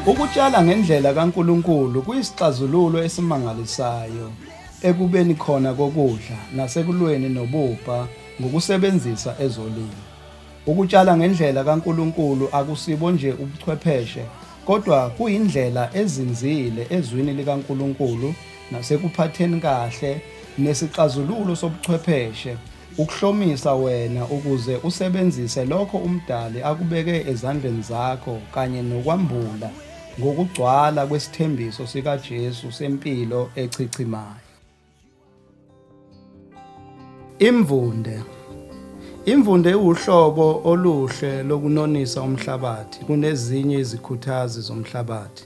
Ukutshala ngendlela kaNkulunkulu kuyisixazululo esimangalisayo ekubeni khona kokudla nasekulweni nobubha ngokusebenzisa ezolimo. Ukutshala ngendlela kaNkulunkulu akusibo nje ubuchwepheshe kodwa kuyindlela ezinzile ezwini likaNkulunkulu nasekuphatheni kahle nesixazululo sobuchwepheshe Ukuhlomisa wena ukuze usebenzise lokho uMdali akubeke ezandleni zakho kanye nokwambula ngokugcwala kwesithembiso sikaJesu sempilo echichimayo. Imvunde Imvunde iwuhlobo oluhle lokunonisa umhlabathi kunezinye izikhuthazi zomhlabathi,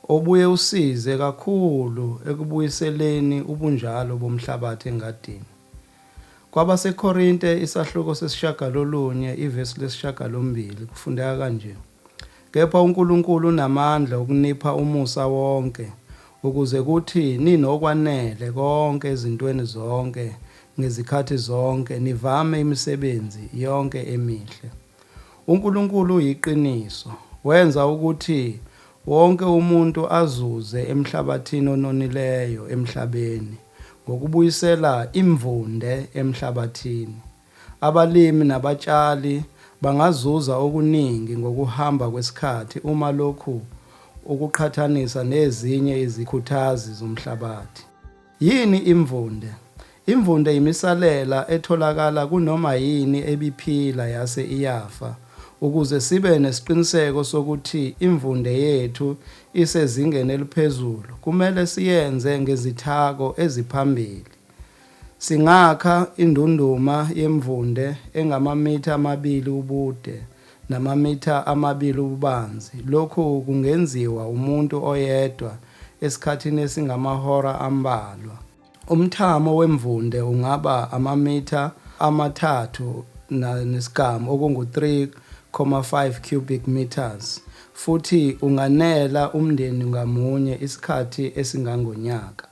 obuye usize kakhulu ekubuyiseleni ubunjalo bomhlabathi engadini. KwabaseKorinte isahluko sesishagalolunye ivesi lesishagalombili kufundeka kanje, Kepha uNkulunkulu unamandla okunipha umusa wonke, ukuze kuthi ninokwanele konke ezintweni zonke ngezikhathi zonke, nivame imisebenzi yonke emihle. UNkulunkulu uyiqiniso. Wenza ukuthi wonke umuntu azuze emhlabathini ononileyo emhlabeni ngokubuyisela imvunde emhlabathini. Abalimi nabatshali bangazuza okuningi ngokuhamba kwesikhathi uma lokhu ukuqhathanisa nezinye izikhuthazi zomhlabathi. Yini imvunde? Imvunde yimisalela etholakala kunoma yini ebiphila yase iyafa. Ukuze sibe nesiqiniseko sokuthi imvunde yethu isezingeni eliphezulu, kumele siyenze ngezithako eziphambili. Singakha indunduma yemvunde engamamitha amabili ubude, namamitha amabili ububanzi, lokhu kungenziwa umuntu oyedwa esikhathini esingamahora ambalwa. Umthamo wemvunde ungaba amamitha amathathu nesigamu, okungu-3.5 cubic metres, futhi unganela umndeni ngamunye isikhathi esingangonyaka.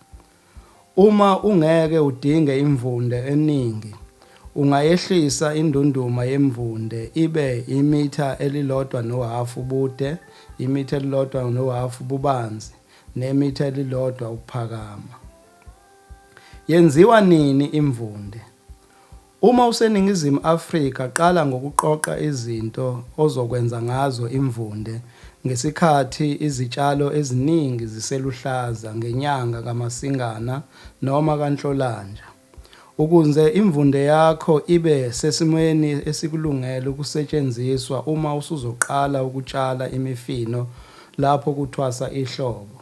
Uma ungeke udinge imvunde eningi, ungayehlisa indunduma yemvunde ibe imitha elilodwa nohhafu ubude, imitha elilodwa nohhafu ububanzi nemitha elilodwa ukuphakama. Yenziwa nini imvunde? Uma useNingizimu Afrika qala ngokuqoqa izinto ozokwenza ngazo imvunde ngesikhathi izitshalo eziningi ziseluhlaza ngenyanga kaMasingana noma kaNhlolanja ukunze imvunde yakho ibe sesimweni esikulungele ukusetshenziswa uma usuzoqala ukutshala imifino lapho kuthwasa ihlobo.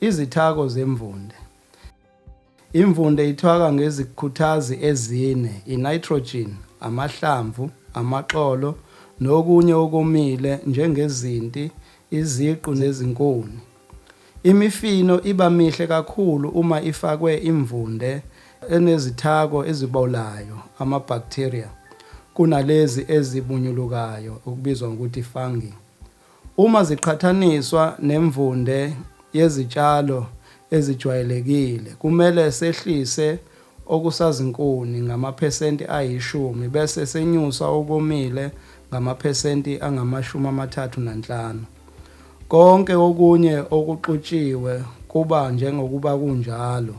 Izithako zemvunde. Imvunde ithwaka ngezikhuthazi ezine, i-nitrogen, amahlamvu, amaxolo nokunye okomile njengezinti, iziqu nezinkuni. Imifino iba mihle kakhulu uma ifakwe imvunde enezithako ezibolayo, ama-bacteria, kunalezi ezibunyulukayo okubizwa ngokuthi fungi. Uma ziqhathaniswa nemvunde yezitshalo ezijwayelekile, kumele sehlise okusazinkuni ngamaphesenti ayishumi bese senyusa okomile ngamaphesenti angamashumi amathathu nanhlanu. Konke okunye okuxutshiwe kuba njengokuba kunjalo.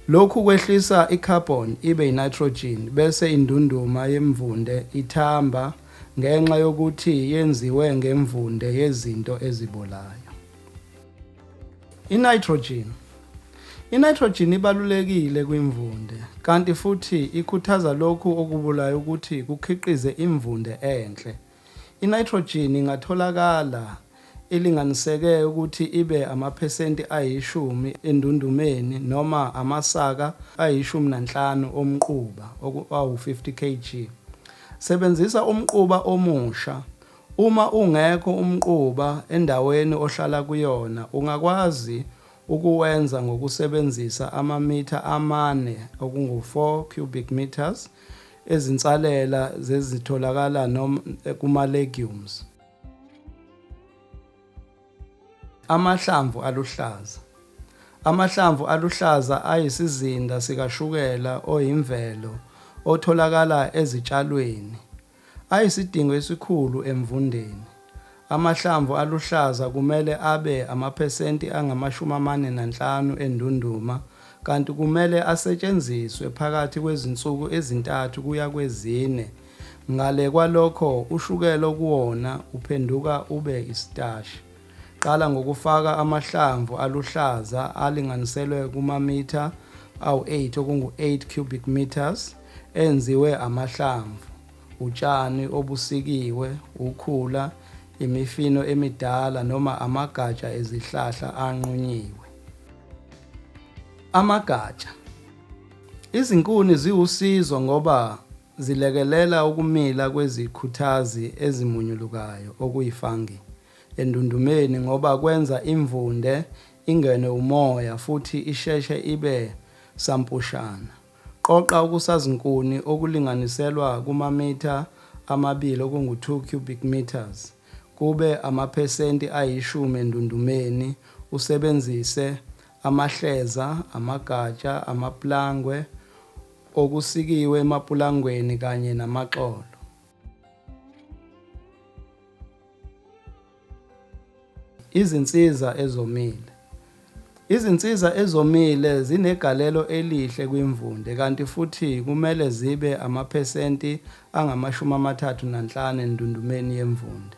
Lokhu kwehlisa i-carbon ibe i-nitrogen bese indunduma yemvunde ithamba, ngenxa yokuthi yenziwe ngemvunde yezinto ezibolayo. I-nitrogen I-nitrogen ibalulekile kwimvunde kanti futhi ikhuthaza lokhu okubulayo ukuthi kukhiqize imvunde enhle. I-nitrogen ingatholakala ilinganiseke ukuthi ibe amaphesenti ayishumi endundumeni noma amasaka ayishumi nanhlanu omquba awu-50 kg. Sebenzisa umquba omusha. Uma ungekho umquba endaweni ohlala kuyona ungakwazi ukuwenza ngokusebenzisa amamitha amane okungu-4 cubic metres ezinsalela zezitholakala kuma-legumes. Amahlamvu aluhlaza Amahlamvu aluhlaza ayisizinda sikashukela oyimvelo otholakala ezitshalweni. Ayisidingo esikhulu emvundeni. Amahlamvu aluhlaza kumele abe amaphesenti angamashumi amane nanhlanu endunduma kanti kumele asetshenziswe phakathi kwezinsuku ezintathu kuya kwezine Ngale kwalokho ushukela okuwona uphenduka ube isitashi. Qala ngokufaka amahlamvu aluhlaza alinganiselwe kumamitha awu-8 okungu-8 cubic metres enziwe amahlamvu, utshani obusikiwe, ukhula, imifino emidala noma amagatsha ezihlahla anqunyiwe. Amagatsha. Izinkuni ziwusizo ngoba Zilekelela ukumila kwezikhuthazi ezimunyulukayo okuyi-fungi endundumeni ngoba kwenza imvunde ingenwe umoya futhi isheshe ibe sampushana. Qoqa okusazinkuni okulinganiselwa kumamitha amabili okungu-two cubic metres kube amaphesenti ayishumi endundumeni usebenzise amahleza, amagatsha, amapulangwe, okusikiwe emapulangweni kanye namaxolo. Izinsiza ezomile. Izinsiza ezomile zinegalelo elihle kwimvunde kanti futhi kumele zibe amaphesenti angamashumi amathathu nanhlanu endundumeni yemvunde.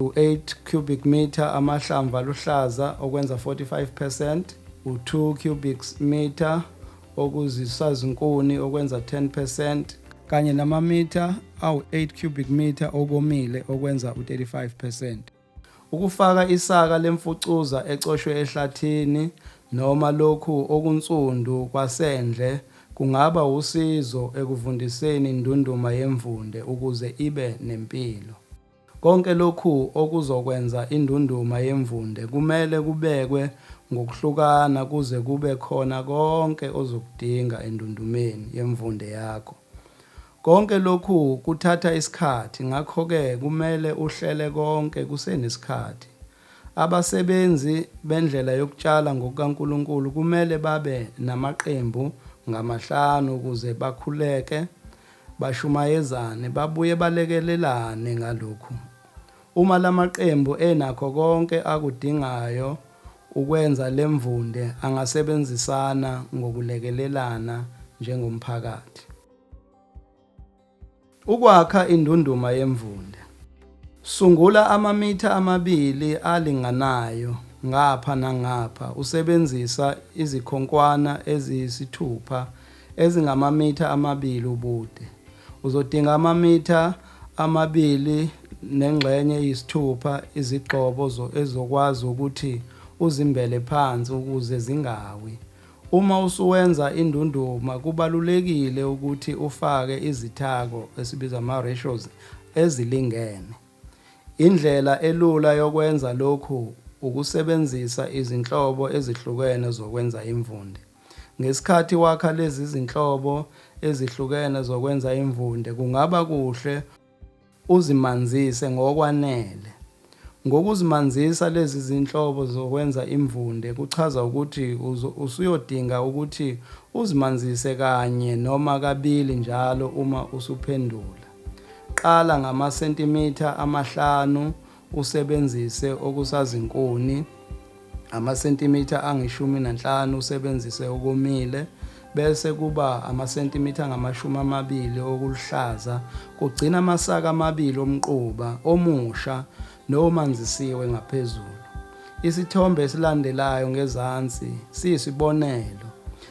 U-8 cubic metre amahlamvu aluhlaza okwenza 45 percent, u-2 cubic metre okuzisazinkuni okwenza 10 percent, kanye namamitha awu-8 cubic metre okomile okwenza u-35 percent. Ukufaka isaka lemfucuza ecoshwe ehlathini noma lokhu okunsundu kwasendle kungaba wusizo ekuvundiseni indunduma yemvunde ukuze ibe nempilo. Konke lokhu okuzokwenza indunduma yemvunde kumele kubekwe ngokuhlukana kuze kube khona konke ozokudinga endundumeni yemvunde yakho. Konke lokhu kuthatha isikhathi ngakho-ke kumele uhlele konke kusenesikhathi. Abasebenzi bendlela yokutshala ngokukaNkulunkulu kumele babe namaqembu ngamahlanu ukuze bakhuleke Bashumayezane, babuye balekelelane ngalokhu. Uma la maqembu enakho konke akudingayo ukwenza le mvunde angasebenzisana ngokulekelelana njengomphakathi. Ukwakha indunduma yemvunde. Sungula amamitha amabili alinganayo ngapha nangapha usebenzisa izikhonkwana eziyisithupha ezingamamitha amabili ubude. Uzodinga amamitha amabili nengxenye eyisithupha izigxobo ezokwazi ukuthi uzimbele phansi ukuze zingawi. Uma usuwenza indunduma kubalulekile ukuthi ufake izithako esibiza ama-ratios ezilingene. Indlela elula yokwenza lokhu ukusebenzisa izinhlobo ezihlukene zokwenza imvunde. Ngesikhathi wakha lezi zinhlobo ezihlukene zokwenza imvunde kungaba kuhle uzimanzise ngokwanele. Ngokuzimanzisa lezi zinhlobo zokwenza imvunde kuchaza ukuthi usuyodinga ukuthi uzimanzise kanye noma kabili njalo uma usuphendula. Qala ngamasentimitha amahlanu usebenzise okusazinkuni, amasentimitha angeshumi nanhlanu usebenzise okomile, bese kuba amasentimitha angamashumi amabili okuluhlaza, kugcina amasaka amabili omquba omusha nomanzisiwe ngaphezulu. Isithombe esilandelayo ngezansi siyisibonelo.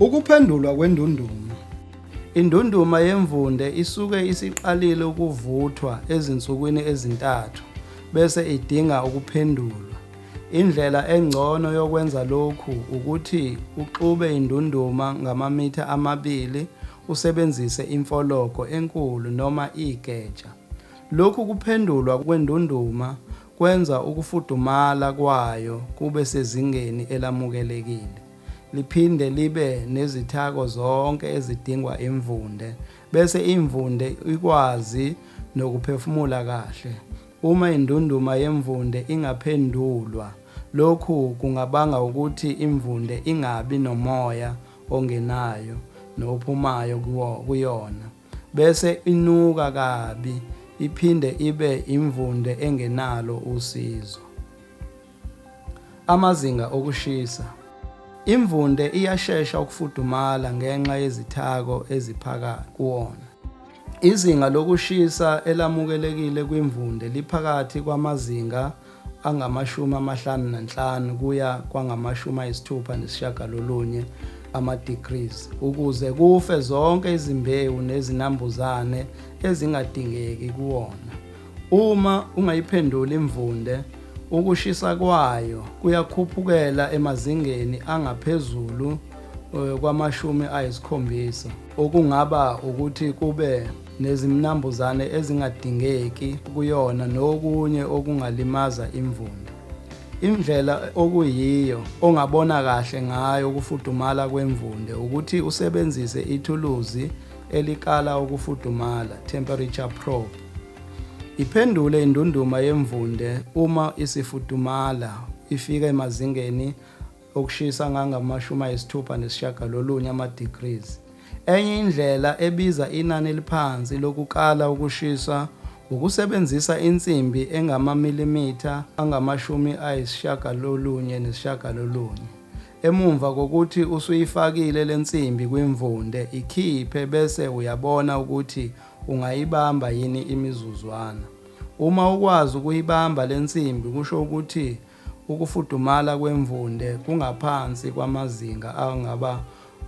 Ukuphendulwa kwendunduma. Indunduma yemvunde isuke isiqalile ukuvuthwa ezinsukwini ezintathu bese idinga ukuphendulwa. Indlela engcono yokwenza lokhu ukuthi uxube indunduma ngamamitha amabili usebenzise imfologo enkulu noma igeja. Lokhu kuphendulwa kwendunduma kwenza ukufudumala kwayo kube sezingeni elamukelekile. liphinde libe nezithako zonke ezidingwa imvunde bese imvunde ikwazi nokuphefumula kahle. Uma indunduma yemvunde ingaphendulwa, lokhu kungabanga ukuthi imvunde ingabi nomoya ongenayo nophumayo kuyona bese inuka kabi iphinde ibe imvunde engenalo usizo. Amazinga okushisa. Imvunde iyashesha ukufudumala ngenxa yezithako eziphakathi kuwona. Izinga lokushisa elamukelekile kwimvunde liphakathi kwamazinga angamashumi amahlanu nanhlanu kuya kwangamashumi ayisithupha nesishagalolunye ama-degrees ukuze kufe zonke izimbewu nezinambuzane ezingadingeki kuwona. Uma ungayiphenduli imvunde, ukushisa kwayo kuyakhuphukela emazingeni angaphezulu eh, kwamashumi ayisikhombisa, okungaba ukuthi kube nezimnambuzane ezingadingeki kuyona nokunye okungalimaza imvunde. Indlela okuyiyo ongabona kahle ngayo ukufudumala kwemvunde ukuthi usebenzise ithuluzi elikala ukufudumala, temperature probe, iphendule indunduma yemvunde uma isifudumala ifika emazingeni okushisa angangamashumi ayisithupha nesishiyagalolunye ama-degrees. Enye indlela ebiza inani eliphansi lokukala ukushisa wukusebenzisa insimbi engamamilimitha angamashumi ayisishiyagalolunye nesishiyagalolunye. Emumva kokuthi usuyifakile le nsimbi kwimvunde, ikhiphe bese uyabona ukuthi ungayibamba yini imizuzwana. Uma ukwazi ukuyibamba le nsimbi kusho ukuthi ukufudumala kwemvunde kungaphansi kwamazinga angaba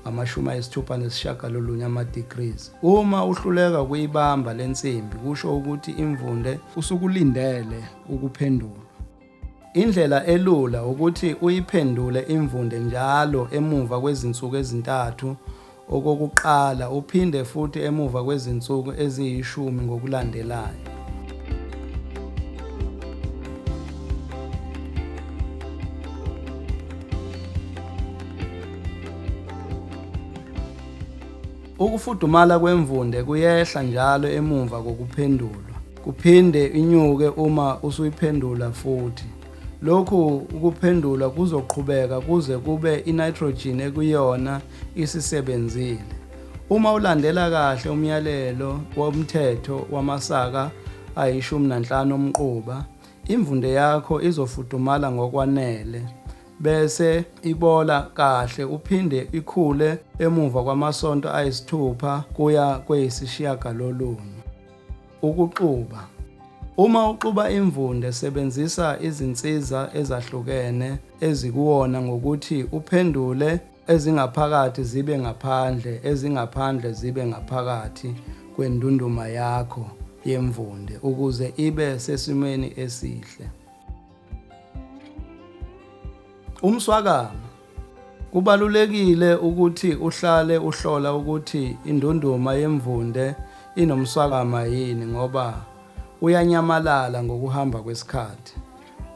ngamashumi ayisithupha nesishagalolunye ama-degrees. Uma uhluleka ukuyibamba le nsimbi kusho ukuthi imvunde. Usukulindele ukuphendulwa. Indlela elula ukuthi uyiphendule imvunde njalo emuva kwezinsuku ezintathu okokuqala uphinde futhi emuva kwezinsuku eziyishumi ngokulandelayo. Ukufudumala kwemvunde kuyehla njalo emumva kokuphendulwa. Kuphinde inyuke uma usuyiphendula futhi. Lokhu ukuphendula kuzoqhubeka kuze kube i-nitrogen ekuyona isisebenzile. Uma ulandela kahle umyalelo womthetho wamasaka ayishumi nanhlanu omquba, imvunde yakho izofudumala ngokwanele bese ibola kahle uphinde ikhule emuva kwamasonto ayisithupha kuya kweyisishiyagalolunye. Ukuxuba. Uma uxuba imvunde sebenzisa izinsiza ezahlukene ezikuwona ngokuthi uphendule ezingaphakathi zibe ngaphandle, ezingaphandle zibe ngaphakathi kwendunduma yakho yemvunde ukuze ibe sesimweni esihle. Umswakama Kubalulekile ukuthi uhlale uhlola ukuthi indunduma yemvunde inomswakama yini ngoba uyanyamalala ngokuhamba kwesikhathi.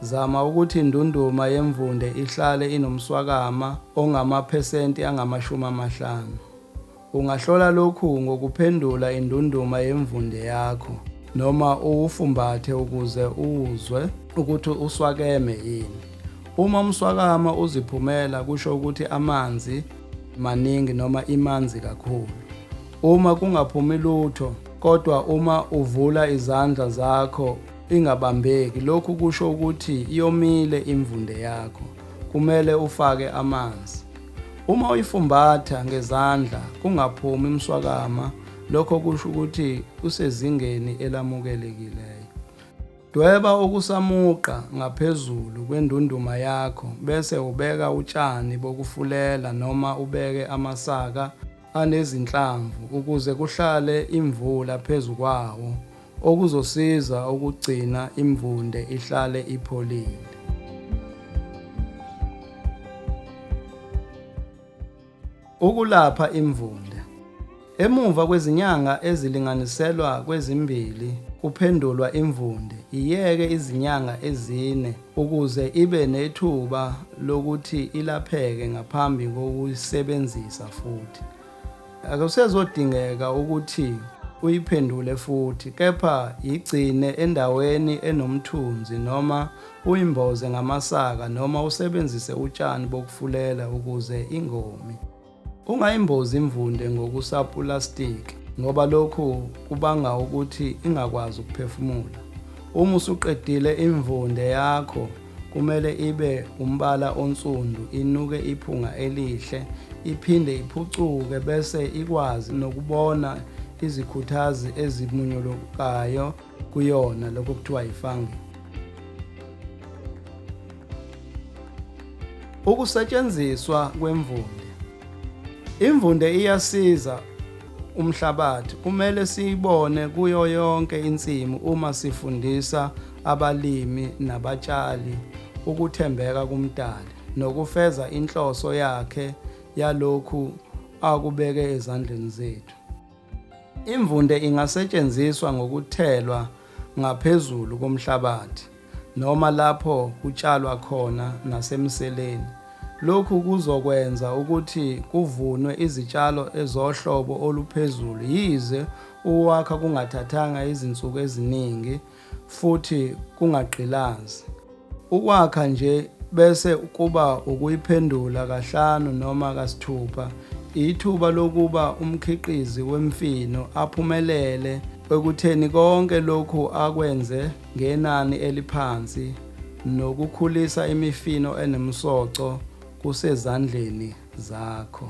Zama ukuthi indunduma yemvunde ihlale inomswakama ongamaphesenti angamashumi amahlanu. Ungahlola lokhu ngokuphendula indunduma yemvunde yakho noma uwufumbathe ukuze uzwe ukuthi uswakeme yini. Uma umswakama uziphumela kusho ukuthi amanzi maningi noma imanzi kakhulu. Uma kungaphumi lutho kodwa uma uvula izandla zakho ingabambeki lokhu kusho ukuthi iyomile imvunde yakho. Kumele ufake amanzi. Uma uyifumbatha ngezandla kungaphumi mswakama lokho kusho ukuthi usezingeni elamukelekileyo. Dweba okusamuqa ngaphezulu kwendunduma yakho bese ubeka utshani bokufulela noma ubeke amasaka anezinhlamvu ukuze kuhlale imvula phezu kwawo okuzosiza ukugcina imvunde ihlale ipholile. Ukulapha imvunde. Emuva kwezinyanga ezilinganiselwa kwezimbili kuphendulwa imvunde, iyeke izinyanga ezine Ukuze ibe nethuba lokuthi ilapheke ngaphambi kokuyisebenzisa futhi, akusezodingeka ukuthi uyiphendule futhi, kepha yigcine endaweni enomthunzi noma uyimboze ngamasaka noma usebenzise utshani bokufulela ukuze ingomi. Ungayimbozi imvunde ngokusapulasitiki ngoba lokhu kubanga ukuthi ingakwazi ukuphefumula. Uma usuqedile imvunde yakho kumele ibe umbala onsundu, inuke iphunga elihle, iphinde iphucuke bese ikwazi nokubona izikhuthazi ezimunyulukayo. kuyona lokho kuthiwa yifangi ukusetshenziswa kwemvunde imvunde iyasiza umhlabathi kumele siyibone kuyo yonke insimu uma sifundisa abalimi nabatshali ukuthembeka kumdali nokufeza inhloso yakhe yalokhu akubeke ezandleni zethu Imvunde ingasetshenziswa ngokuthelwa ngaphezulu komhlabathi noma lapho kutshalwa khona nasemseleni. Lokhu kuzokwenza ukuthi kuvunwe izitshalo ezohlobo oluphezulu yize ukuwakha kungathathanga izinsuku eziningi futhi kungagqilazi. Ukwakha nje bese kuba ukuyiphendula kahlanu noma kasithupha ithuba lokuba umkhiqizi wemfino aphumelele ekutheni konke lokhu akwenze ngenani eliphansi nokukhulisa imifino enomsoco kusezandleni zakho.